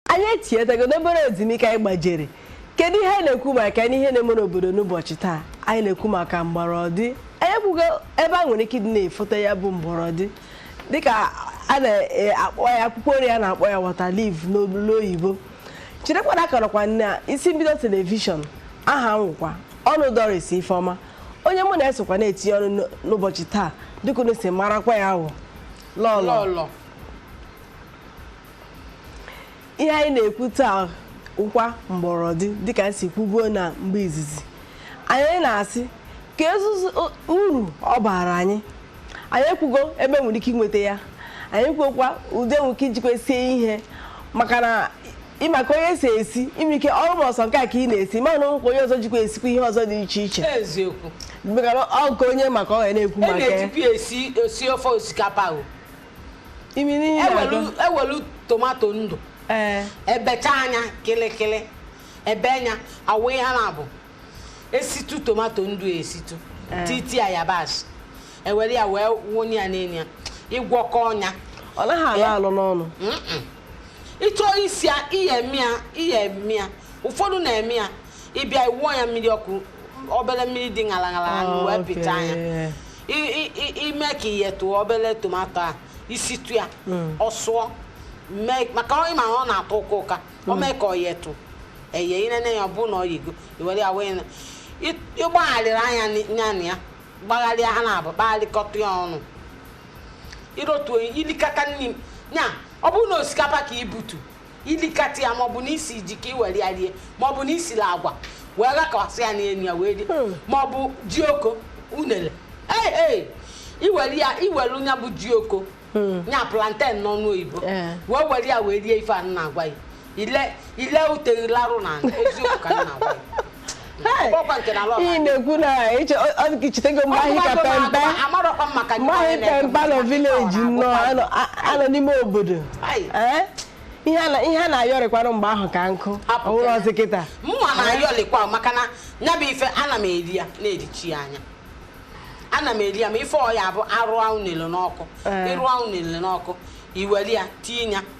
anyị etinyetago n'obere ezumike anyị gbajere kedu ihe anyị na-ekwu maka na ihe na-eme n'obodo n'ụbọchị taa anyị na-ekwu maka mgbọrọdị anyị ekwugo ebe e nwere ike ịdị na-efote ya bụ mgbọrọdị dịka a na-akpọ ya akwụkwọ nri a na-akpọ ya water leaf n'olu oyibo cherekwana akọrọkwa na isi mbido telivishọn aha m wụkwa ọnụ doris ifeọma onye mụ na-esokwa na-etinye ọnụ n'ụ- n'ụbọchị taa dịka unu si marakwa ya wụ lọlọ lọlọ ihe anyị na-ekwu taa wụkwa mgbọrọdị dịka anyị si kwubuo na mgbe izizi anyị na-asị ka ezuzu uru ọ baara anyị anyị ekwugo ebe e nwere ike inweta ya anyị kwuokwa ụdị e nwere ike ijikwa sie ihe maka na ịma ka onye si esi ime ike ọrụ ma ọsọ nke a ka ị na-esi mana o nwekwa onye ọzọ jikwa esikwa ihe ọzọ dị iche iche eziokwu maka na ọ nke onye maka ọ ga na-ekwu e maka ya na-ejikwa esi osi ofe osikapa o imi n'ihe na-agụ ewelu tomato ndụ ee ebechaa nya kịlịkịlị ebee nya awụ ihe na-abụ esitu tomato ndụ esitu Eh. titi ya yabasị ewere ya wee wụnye ya n'elu ya ịgwọkọọ nya ọ naghị alọ Eh. alọ n'ọnụ Mm-mm. ịchọ isi ya ihe eme ya ihe eme ya ụfọdụ na-eme ya ịbịa iwụọ ya mmiri ọkụ obere mmiri dị ṅara ṅara ṅara wee pịchaa nya Okay. ime ka iyetụ obere tomato a isitụ ya hmm. ọ sụọ maka onye ma ọ na-atọ ụka ụka o hmm. mee ka o yetụ eye inene ya ọ bụrụ na o yego iwere ya wee ịgbagharịrịa nya nya na ya gbagharịa ha naabọ kpagharịkọta ya ọnụ irotu ilikata nri ya ọ bụrụ na osikapa ka ibutu ilikata ya maọbụ na isi ji ka i were ya rie maọbụ na isila agwa wee ghakwasị ya n'elu ya wee rie hmm. maọbụ ji oko unere ee iwere ya iwere nya bụ ji oko hmm. nya plantain n'ọnụ oyibo eh. wee were ya wee rie ife a na-agwa ya ile ile ute gị larụ na eziokwu ka m na-agwa ya ị na-ekwu na chetego mgbe anyị ka pe mpe mgbe anyị pe mpe nọ village nnọọ anọ n'ime obodo ihe a na-ayọrịkwanụ mgbe ahụ ka nkụ ọ wụrụzị kịta mụnwa na-ayọlịkwa maka na ya bụ ife ana m eri ya na-erichi ya anya ana m eri ya ma ife ọ ya-abụ arụọ unele n'ọkụ ịrụọ unele n'ọkụ iwere ya tinye ya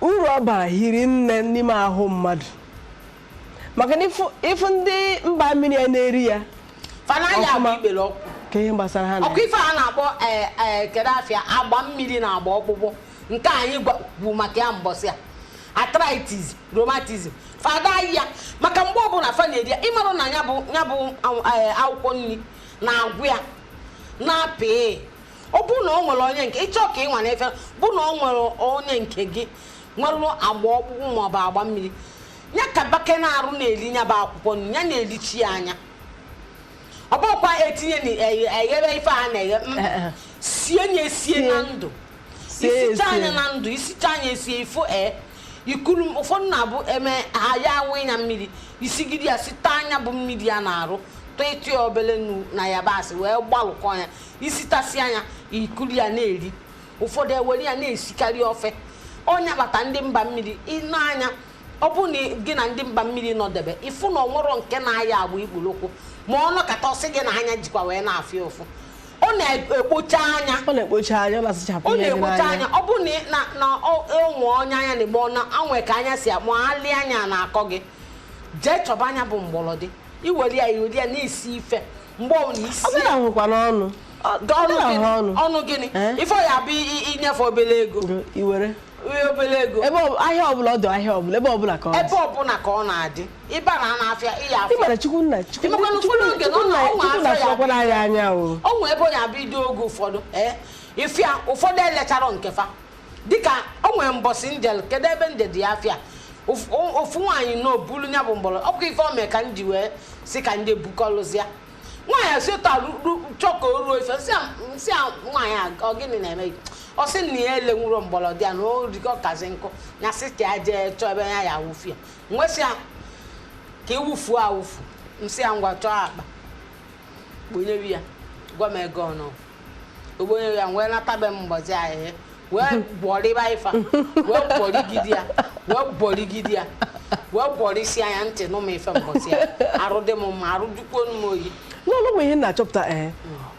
uru ọ bara hiri nne n'ime ahụ mmadụ maka na ịfụ- ịfụ ndị mba mmiri ya na-eri ya fa ada aya bụ Ọfụma. ikpere ọkụ ka ihe gbasara ha na ọkụ ife a na-akpọ ee, ee, kedu afa ya agba mmiri na agba ọkpụkpụ nke anyị gwa- kwu maka ya mbọsị a arthritis rheumatism fa ada aya maka mgbe ọbụla fa na-eri ya ịmarụ na ya bụ ya bụ aw- ee, akwụkwọ nri na-agwọ ya na-apị ọ bụrụ na ọ nwere onye nke ị chọ ka ị nwaa n'ife bụ na ọ nwere onye nke gị nwere agba ọkpụkpụ ma ọ bụ agba mmiri ya ka bake n'arụ na-eli nya bụ akwụkwọ nri ya na-elichi ya anya ọ bụkwa etinye na eghe- eghere ife a na-eghe mm, Eh, eh. sie ya esie na ndụ Sie ya i sichaa nya esie. na ndụ i sichaa nya esie ifo ee i kuru m- ụfọdụ na-abụ eme ha ya a wụnye ya mmiri i sigide ya site nya bụ mmiri ya na-arụ tụịtụ ya obele nnu na yabasị wee gbalụkọọ ya i sitasịa nya i kuru ya na-eri ụfọdụ e were ya na-esikarị ofe ọ nya kpata ndị mba mmiri i nee anya ọ bụ na gị na ndị mba mmiri nọdebe ị fụ na o nwerọ nke na-aya agba ikpele ụkwụ ma ọ nọkata ọ sị gị na anya jikwa wee na-afụ ya ụfụ ọ na-ekpocha anya ọ na-ekpocha anya ọ na-asachapụ ọ ihe dị na-ekpocha anya n'anya ọ bụ na na na ọ- e nwe onye anya na-eme ọ na anwe ka anya si akpọ alị anya na-akọ gị jee chọba nya bụ mgbọrọdị i were ya i were ya na-esi ife mgbe ọbụla isi ọ bụla nwekwana ọnụ ọnụ gịnị ife ọ ya-abụ i nye fa obele ego i were obele ego ebe ahịa ọbụla ọdụ ahịa ọbụla ebe ọbụla ka ọ ebe ọbụla ka ọ na-adị ị baa n'ana afịa ị ya-afụ ya ị mara Chukwu nna Chukwu nna afụkwara anyị n'anya o o nwee ebe ọ ya-abụ ido oge ụfọdụ ee ị fụ ya ụfọdụ elechara nke fa dịka o nwere mbọsị m jel- kedu ebe m jedị afịa Of- o- ofu nwaanyị na o bulu ya bụ mgbọrọ ọ bụkwa ife o mee ka m ji wee sị ka m jee bukọlụzịa nwaanyị a si otu a ru- ru- chọ ka o ruo ife m sị a- m sị a nwaanyị a ọ gịnị na-eme gị ọ sị na ya elenwurọ mgbọrọdị ya na o rikọ kazi nkụ ya sị ka ya jee chọọ ebe ya ya-awụfu ya m wee sị ya ka ị wụfuo awụfu m sị ya ngwa chọọ akpa kponyewe ya gwa m ego ọnụ o kponye ya wee nata be m mgbazi ahịhịa wee bọrịba ife a wee bọrịgide ya wee bọrịgide ya wee bọrịsịa nya ntị nụ m ife mbọsị a arụ dị m mma arụ dịkwuo m oyi o nwelu ihe m na-achọpụta ee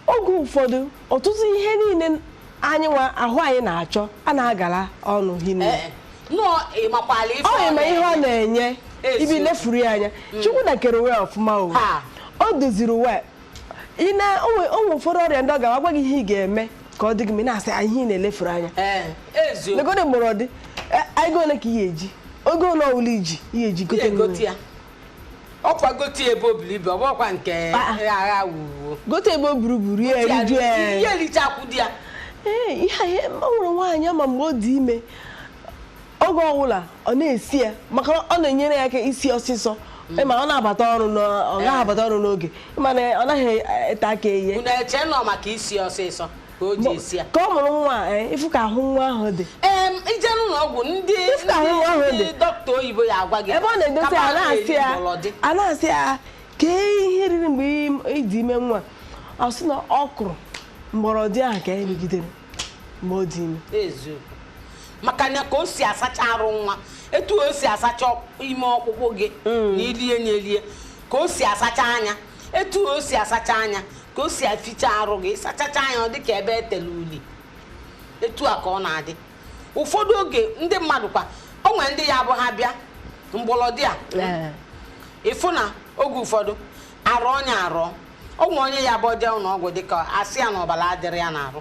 oge ụfọdụ ọtụtụ ihe niile anyị nwa ahụ anyị na-achọ a na-agara ọnụ hinne Ee, nọọ ị makwala ife ọ ma ihe ọ na-enye Ezi. ị bịa lefuru ya anya Chukwu nna kere ụwa ọfụma o Ha. o doziri ụwa ị na o nwe o nwe ụfọdụ ọrịa ndị a ga-agwa gị ihe ị ga-eme ka ọ dị gị mma ị na-asị "Ah, ihe ị na-elefuru anya ee eziokwu legodị mgbọrọdị ego ole ka ị ga-eji ego ole ọwụla i ji ị ga-eji gote nri. e gote ya ọ kwa gote ebe o buru ibu ọ bụkwa nke Ah. agha wuwo gote ebe o buru buru ya eriju ya ihe erichakwu di ya Ee, ihe a ihe- o nwere nwaanyị a ma mgbe ọ dị ime oge ọbụla ọ na-esi ya maka na ọ na-enyere ya aka isi ọsịsọ ma ọ na-abata ọrụ n'ọ- ọ gaghị abata ọrụ n'oge mana ọ naghị ete aka ihe unu eche na ọ maka isi ọsịsọ ka o ji esi ya ka ọ mụrụ nwa a, eh, ị fụ ka ahụ nwa ahụ dị Em, i jee n'ụlọ ọgwụ ndị Ife ka ahụ ahụ ndị- dị. ndị dọkịta oyibo ya agwa gị ebe ọ na-edote kama ya a na-asị na-eri ya mgbọrọdị. a na-asị ya kee ihe i riri mgbe ị- ị dị ime nwa ọ sị na ọ kụrụ mgbọrọdị ahụ ka ya rigidere mgbe ọ dị ime eziokwu maka na ka o si asacha arụ nwa etu o si asacha ime ọkpụkpụ gị mm. na i lie na e lie ka o si asacha anya etu o si asacha anya ka o si aficha arụ gị sachacha anya ọ dị ka ebe e tele uli etu a ka ọ na-adị ụfọdụ oge ndị mmadụ kwa o nwere ndị ya abụ ha bịa mgbọlọdị a ị fụ na oge ụfọdụ arụ onye arụ o nwere onye ya bụ o jee ụlọ ọgwụ dịka a sị ya na ọbala adịrọ ya n'arụ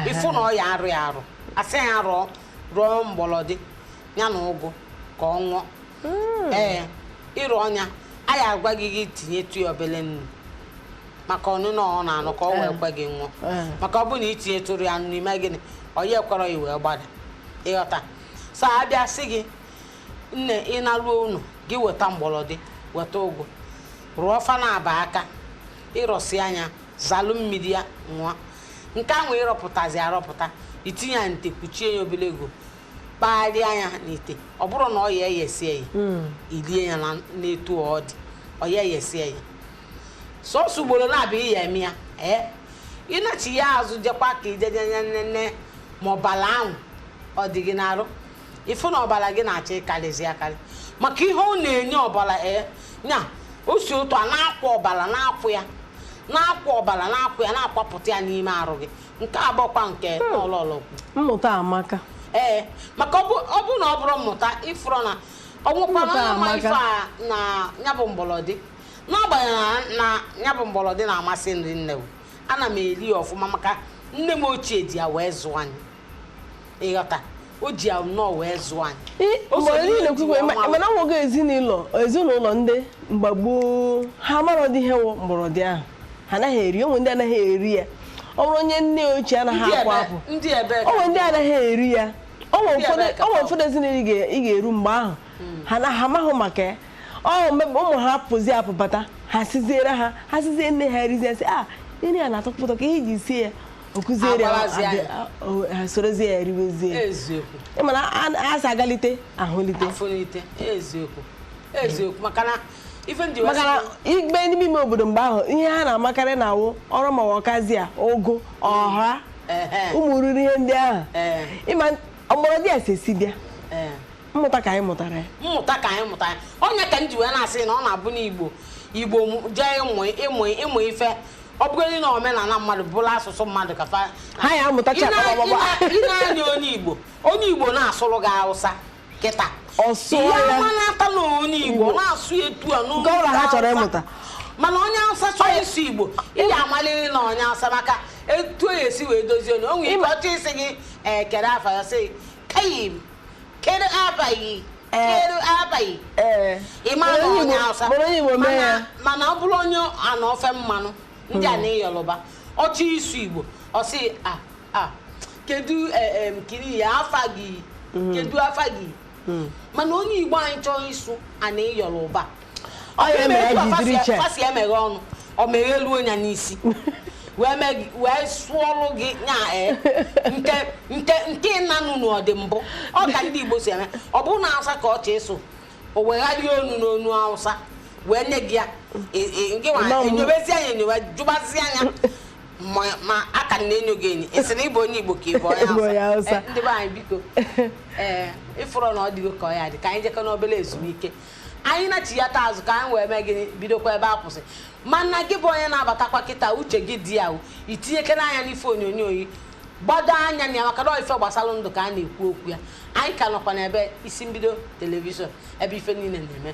ị fụ na ọ ya arọ ya arọ a sị ya rọọ rọọ mgbọlọdị ya na ụgụ ka ọ ṅụọ hmm. ee ị rọọ nya a ya agwa gị gị tinyetụ ya obele nnu maka ọnụnọ ọ na-anọ ka ọ wee eh. kwe gị ṅụọ eh. maka ọ bụ na i tinyetụrụ ya nnu ime gịnị ọ ya ekwere ya wee gbada ị ghọta so a bịa sị gị nne ị naluo ụnọ gị weta mgbọlọdị weta ụgụ rọọ fa naabọ aka ị rọsịa nya zalụ mmiri ya ṅụọ nke ahụ ị rọpụtazi arọpụta i tinye ya n'ite kpuchie ya obele oge kpagharịa ya n'ite ọ bụrụ na ọ ya eyesie ya hmm. i lie ya n'etu ọ dị ọ ya eyesie ya sọsọ ugbolo naabọ ị ya eme ya ee ị nachịa azụ jekwa ka i je nene ma ọbala ahụ ọ dị gị n'arụ ị fụ na ọbala gị na-achọ ịkarịzi akarị maka ihe ọ na-enye ọbala ee nya o si otu a na-akwa ọbala na-akwa ya na-akwa ọbala na-akwa ya na-akwapụta ya n'ime arụ gị nke a bụkwa nke ọlọlọ kwu mmụta amaka ee maka ọ bụ- ọ bụrụ na ọ bụrọ mmụta ị fụrọ na o nwekwana Mmụta onye ma amaka. ife a na nya bụ mgbọlọdị n'agbanyeghị na nya bụ mgbọlọdị na-amasị m ri nne ana m eli ya ọfụma maka nne m ochie ji ya wee zụọ anyị ị ghọta o ji ya nnọọ wee zụọ anyị Ị- O mgbe so anyị n'ihe na-ekwukwe ji ma- ọnwa mana o nwe ezinụlọ ezinụlọ ndị mgbe gboo ha amarọdị ihe wụ mgbọrọdị ahụ ha anaghị eri o nwe ndị anaghị eri ya ọ bụrụ onye nne ochie anaghị Ndị apụ ebe- apụ ndị ebe ka- onwe ndị anaghị eri ya o nwe Ndị ụfọdụ ebe ka onwe ọ- ụfọdụ ezinụlọ ị ga- ị ga-eru mgbe ahụ ha na ha amaghị maka ya ọ mgbe ụmụ ha pụzi apụ bata ha siziere ha ha sizie nne ha erizie sị a nri a na-atọ ụtọ kee ihe e ji sie ya ọ kụziere ya, Agwalazi ya. adị- a- o- ha sorozie ya eriwezie ya. eziokwu Ị ma na a- a sị agalite ahụlite afụlite eziokwu eziokwu maka na ife ndị maka na i bi n'ime ime obodo mgbe ahụ ihe ha na-amakarị na awụ ọrụ ma ọkazị a ụgụ ọha Ehe. ụmụ iriri ihe ndị ahụ Ee. ị ma mgbọrọdị a si esi bịa Ee. mmụta ka anyị mụtara ya mmụta ka anyị mụta ya ọ nya ka m ji wee na-asị na ọ na-abụ n'igbo igbo mụ- jee ịmụ ịmụ ịmụ ife ọ bụgodị na omenala mmadụ bụrụ asụsụ mmadụ ka fa ha ya amụtacha Ị na- akpọrọ ị na- ị na-anya onye igbo onye igbo na-asụrụ gị hausa kịta Ọ sụọ Ihe ya. a ma-amata na onye igbo Igbo. na-asụ etu a n'olu Nke ọbụla ha chọrọ Hausa. ịmụta. mana onye hausa chọrọ ịsụ igbo ị ga-amaliri na onye hausa maka etu o esi wee dozie onu o nwere ike ọ chọọ ịsị gị ee kedu afa ya sị Kayim, kedu aba gị kedu aba gị ee ị ma na onye Hausa mana onye Igbo mee ya mana ọ bụrụ onye ana ofe mmanụ ndị ana hmm. Yoruba ọ chọọ ịsụ Igbo ọ sị a a kedu e, kiri ya afa gị hmm. kedu afa gị hmm. mana onye Igbo anyị chọọ ịsụ ana Yoruba Ọ ya mere ji dịrị iche. fa si emeghe ọnụ o meghe ruo ya n'isi wee mee gị- wee sụọlụ gị nya ee nke nke nke ị na-anụ n'ọ dị mbụ ọ ka ndị igbo si eme ọ bụrụ na awụsa ka ọ chọ ịsụ o wegharịa onu n'onu awụsa wee nye gị ya E- e- gị nwa Ịma mgbu. enyobezia nya enyobe jụbazia nya ma ma a ka na-enyo gị enyo ị sị na ị bụ onye igbo ka ị bụ onye Ị bụ onye Hausa. Hausa. Eh, ndị be anyị biko ee ị fụrụ na ọ dịgo ka ọ ya dị ka anyị jekọ n'obere ezumike anyị nachighata azụ ka anyị wee mee gịnị bidokwa ebe a kwụsị mana gị bụ onye na-abatakwa kịta uche gị dị ya i tinyekene anya n'ife onyonyo yi gbado anya na ya maka na ife gbasara ndụ ka a na-ekwu okwu ya anyị ka nọkwa n'ebe isi mbido telivishọn ebe ife niile na-eme